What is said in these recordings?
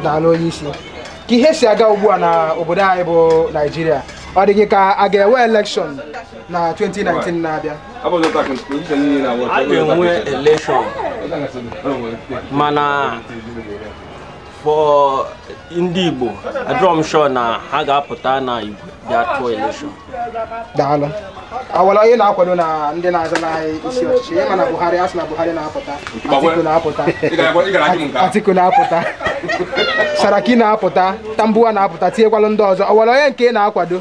daalụ onye isi ka ihe si aga ugbu a na obodo anyị bụ naijiria ọ dị gị ka a ga-enwe elekshọn na 2019 na-abịa a ga-enwe elekshọn mana for ndị igbo adịrọ m sure na ha ga-apụta na igwe bịa tụọ elekshọn daalụ o nwere onye ị na-akwado na ndị na-azọ n'ahịa isi ọchịchị ịma na buhari a sị na buhari na-apụta atiku na-apụta atiku na-apụta saraki na-apụta tambuwal na-apụta tinyekwalụ ndị ọzọ o nwere onye nke ị na-akwado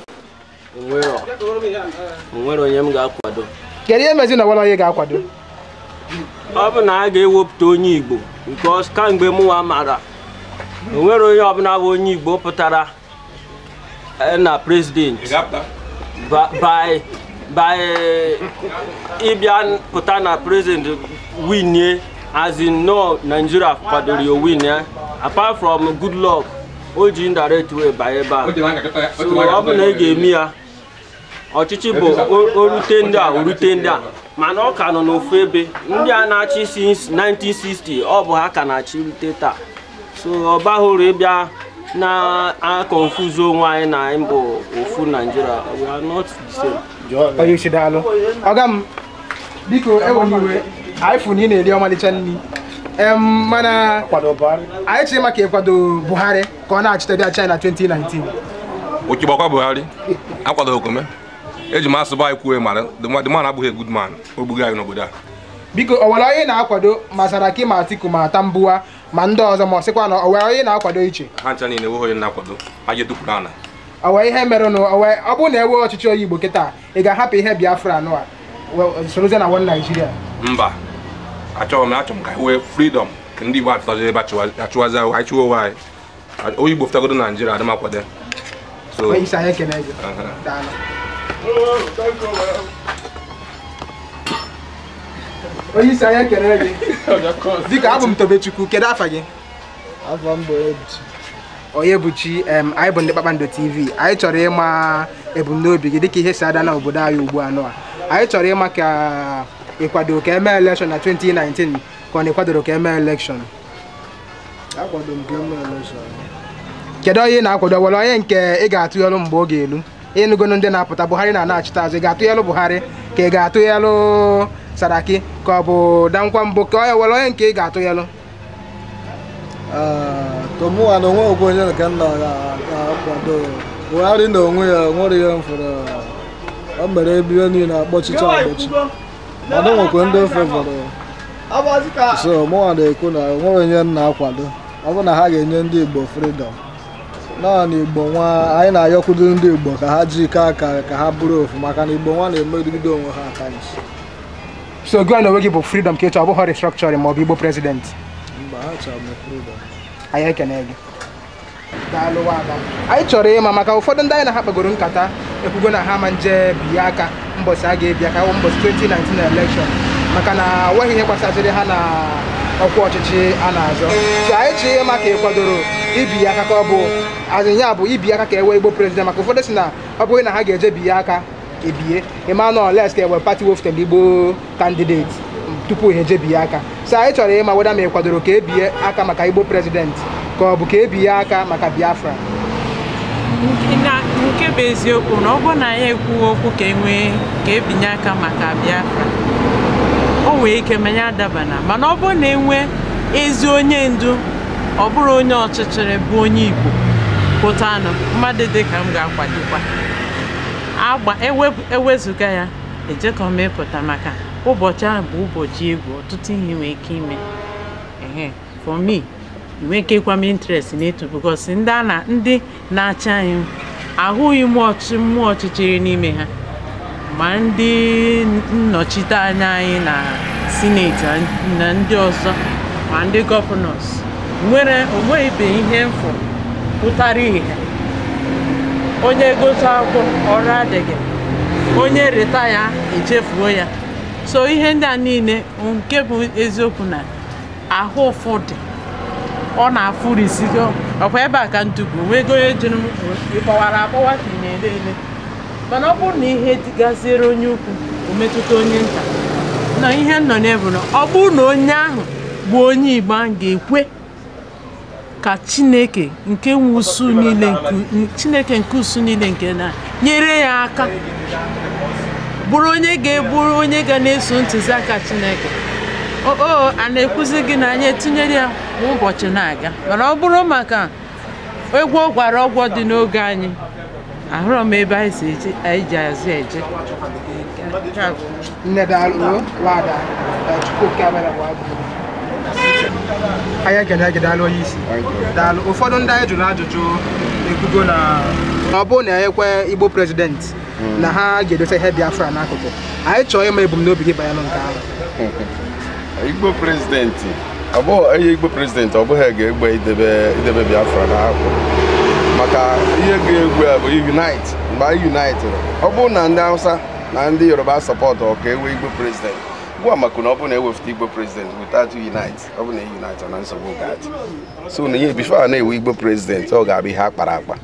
o nwerọ onye m ga-akwado kedu ihe mezi na o nwerọ onye ị ga-akwado ọ bụ na a ga-ewepụta onye igbo because kamgbe mụnwa mara o nwerọ onye ọbụla bụ onye igbo pụtara eh, na president by by ịbịa pụta na president winie as in na Nigeria kwadoro ya win ya eh? apart from Goodluck o ji indirect way banye ebe a so ọ bụ na ị ga-eme ya ọchịchị bụ o rute ndị a o rute ndị a mana ọ ka nọ n'ofu ebe ndị a na-achị since 1960 ọ bụ ha ka na-achị rute taa so ọ baghị uru ịbịa na-akọnfuzi onwe anyị na anyị bụ ofu naijiria we are not the same. onye isi daalụ ọga m biko ewena iwe anyị fụ na ị na-eri ọmalịcha nri mana anyị chọrọ ịma ka ị kwado buhari ka ọ na-achịte bịa chịa na 2019 Ọkụ gbakwa Buhari akwadorọkwa m ya eji m asụ be anyị kwuo mara the man- the man abụghị a good man o gbugo anyị n'obodo a biko o nwere onye ị na-akwado ma Saraki ma Atiku ma Tambuwal ma ndị ọzọ ma ọ sịkwa na o nwere onye ị na-akwado iche ha ncha niile enweghị onye m na-akwado ha je dupụrụ ana o nwere ihe merenụ o nwere- ọ bụrụ na e nwee ọchịchị onye Igbo kịta ị ga-ahapụ ihe Biafra anụ a we- sorozie na one Nigeria mba achọghị m achọrọ m ka e nwee freedom ndị Igbo apụtazi ebe a chịwazi ahụ anyị chịwa onwe anyị onye Igbo fụtagodo na Naịjirịa adị m akwado so Onye isi anyị ekene gị. Aha. Daalụ. Onye isi anyị ekene gị. Dịka abụ m Tobechukwu, kedu afa gị? afa m bụ Ebuchi Onyebuchi em, anyị bụ ndị Kpakpando TV anyị chọrọ ịma ebumnobi gị dịka ihe si aga na obodo anyị ugbu a nụa anyị chọrọ ịma ka ị kwado ka e mee elekshọn na 2019 ka ọ na ịkwadoro ka eme elekshọn akwado m ka eme elekshọn kedu onye ị na-akwado were onye nke ị ga-atụnyelụ mgbe oge elu ịnụgonu ndị na-apụta buhari na na-achịta azụ ị ga-atụnyelụ buhari ka ị ga-atụnyelụ saraki ka ọ bụ dankwambo ka onye were onye nke ị ga-atụnyelụ to mụwa na onwe okwu onye nke m ga-akwado buhari na onwe ya nwere ihe m fụrụ o mere ebe ihe niile akpọchicha akpọchi mana nwekwa ndị ọ fevọrọ so mụnwa na-ekwu na nwere onye m na-akwado ọ bụ na ha ga-enye ndị Igbo freedom naanị Igbo nwa anyị na-ayọkwudo ndị Igbo ka ha jikọọ aka ka ha bụrụ ofu maka na Igbo nwa na-emegide onwe ha aka nchi so gịwa na onwe gị bụ freedom ka ị chọ ọ bụghị restructuring ma ọ bụ Igbo president mba achọrọ m freedom anyị ekene gị daalụ nwada anyị chọrọ ịma maka ụfọdụ ndị anyị na ha kpagoro nkata ekwugo na ha ma nje biye aka mbọsị a ga-ebi aka mbọsị 2019 elekshọn maka na nweghị ihe gbasaziri ha na ọkwa ọchịchị a na-azọ so anyị chọrọ ịma ka ị kwadoro ibiye aka ka ọ bụ azịnya bụ ibi aka ka e nwee igbo prezident maka ụfọdụ sị na ọ bụghị na ha ga-eje biye aka ebie mana unless ka enwee pati wefụtara igbo kandideti tupu ha eje biye aka so anyị chọrọ ịma weda ma ị kwadoro ka ebie aka maka igbo prezidenti ka ọ bụ ka ebie aka maka biafra na nke bụ eziokwu na ọ bụrụ na anyị ekwughị okwu ka enwee ka ebinye aka maka biafra o nwee ike ma ya adabana mana ọ bụrụ na enwee ezi onye ndu ọ bụrụ onye ọchịchịrị bụ onye igbo pụtanụ mmadụ dị ka m ga-akwadokwa agba ewezụga ya ejekọ m ịpụta maka ụbọchị ahụ bụ ụbọchị egwu ọtụtụ ihe nwee ike ime ehe for me enweghịkwa m interest n'etu because ndị a na ndị na-achị anyị ahụghị m ọchị mmụọ ọchịchịrị n'ime ha ma ndị nnọchite anya anyị na sineti na ndị ọzọ ma ndị gọvanọs nwere onweghịbe ihe m fụ pụtara ihe onye gụsịa akwụkwọ ọrụ adịghị onye retire echefuo ya so ihe ndị a niile nke bụ eziokwu na ahụ ụfụ dị ọ na-afụrisi ike ọkwa ebe a ka ntupu nwego onye jiri m ịkpọwara akpọwa ka ị na-ele ele mana ọ bụrụ na ihe dị gaziere onye ukwu ometụta onye nta na ihe nọ n'ebu na ọ bụrụ na onye ahụ bụ onye igbo ahụ ga-ekwe ka chineke nke nwe usuu niile chineke nke usuu niile nke na nyere ya aka bụrụ onye ga-eburu onye ga na-eso ntụziaka chineke o a na-ekwuzi gị na anyị etinyere ya kwa ụbọchị na-aga mana ọ bụrụ maka egwu ọ gwara ọgwa dị n'oge anyị ahụrọ m ebe anyị si eje anyị ji azụ eje nne daalụ nwada chukwu oke abịama bụ abụ anyị ekene gị daalụ onye isi daalụ ụfọdụ ndị anyị jụrụ ajụjụ ekwugo na ọ bụrụ na e nwee igbo prezidenti na ha ga-edosa ihe Biafra n'akụkụ anyị chọọ ịma ebumnobi gị banyere nke ahụ igbo prezidenti ọ bụghị onye igbo prezidenti ọ bụghị ga-egbo idebe idebe Biafra n'akụkụ maka ihe ga-egbo ya bụ unite mgbe anyị unitịrị ọ bụrụ na ndị Hausa na ndị Yoruba sọpọtụọ ka e nwee igbo prezidenti gwa maka na ọ bụrụ na e wefụta igbo prezidenti without unite ọ bụrụ na unite na nsogbu ga-adị so na ihe before e nwee igbo prezidenti ọ ga-abụ ihe a kpara akpa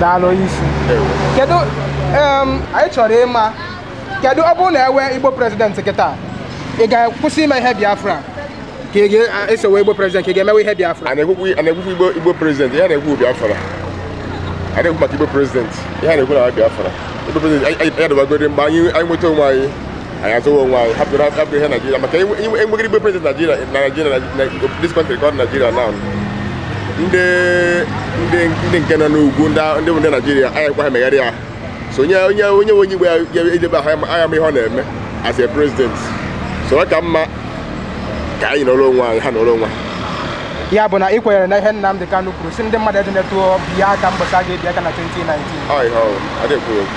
daalụ onye isi kedu em, anyị chọrọ ịma kedu ọ bụrụ na e nwee igbo prezident kịta ị ga-akwụsị ime ihe biafra ka ị ga-esowe igbo prezident ka ị ga-emewe ihe biafra a na-ekwu okwu a na-ekwu okwu igbo igbo prezident ihe a na-ekwu bụ biafra a na-ekwu maka igbo prezident ihe a na-ekwu na biafra igbo prezident anyị- anyị adọbagoro mgbe anyị anyị nweta onwe anyị anyị azụwa onwe anyị hapụrụ hapụrụ ihe Naijiria maka enweghị igbo prezident Naijiria na Naijiria na this country called Nigeria now ndị ndị ndị nke nọ n'ugwu ndị ndị bụ ndị Naijiria anyị kwa ha megharị ya so onye onye onye nwe onye igbo ya ya edebe aha agha ma ihe ọ na-eme as a president so ọ ka mma ka anyị nọrọ onwe anyị ha nọrọ onwe ha ya bụ na ị kwenyere na ihe Nnamdi Kanu kwuru sị ndị mmadụ edinetụ biya aka mbọchị a ga-ebi aka na 2019 ọ ihe ọrụ adịghị kwuru okwu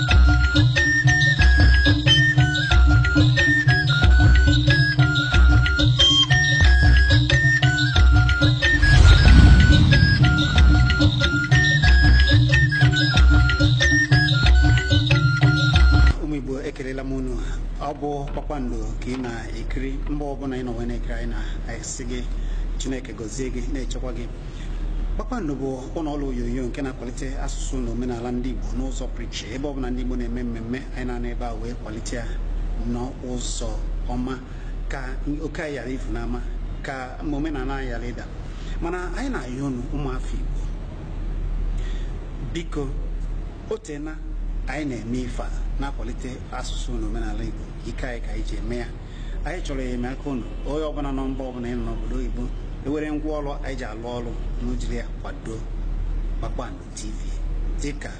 ụmụ igbo ekelela m unu ọ bụ kpakpando ka ị na-ekiri mgbe ọbụla ị nọ wee na-ekiri anyị na-asị gị chineke gọzie gị na-echekwa gị kpakpando bụ ụlọ ọrụ onyonyo nke na-akwalite asụsụ na omenala ndị Igbo n'ụzọ pụrụ iche ebe ọbụla ndị Igbo na-eme mmemme anyị na-anọ ebe a wee kwalite ya n'ụzọ ọma ka oke anyị ghara ifu n'ama ka omenala anyị ghara ịda mana anyị na-ayọ unu ụmụafọ Igbo biko o teena anyị na-eme ife a na-akwalite asụsụ na omenala Igbo ike anyị ka anyị ji eme ya anyị chọrọ enyemaka unu onye ọbụla nọ mba ọbụla ị nọ n'obodo oyibo i nwere ngwa ọrụ anyị ji alụ ọrụ na ojiri ya kwado kpakpando tv dịka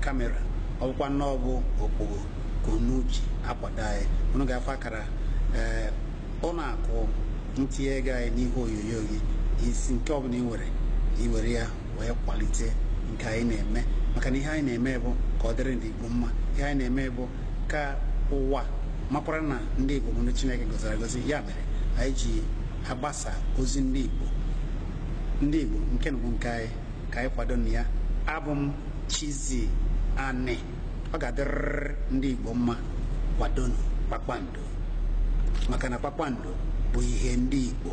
kamera ọ bụkwa na ọ bụ okpogho ka unu ji akwado anyị unu ga-afụ akara ee ụlọ akụ ntinye ego anyị n'ihu onyonyo gị isi nke ọbụla ị nwere i were ya wee kwalite nke anyị na-eme maka na ihe anyị na-eme bụ ka ọ dịrị ndị Igbo mma ihe anyị na-eme bụ ka ụwa makwara na ndị Igbo bụ ndị Chineke gọziri agọzi ya mere anyị ji agbasa ozi ndị Igbo ndị Igbo nke unu bụ nke anyị ka anyị kwadonụ ya abụ m Chizzy Ani ọ ga-adịrịrị ndị Igbo mma kwadonụ kpakpando maka na kpakpando bụ ihe ndị Igbo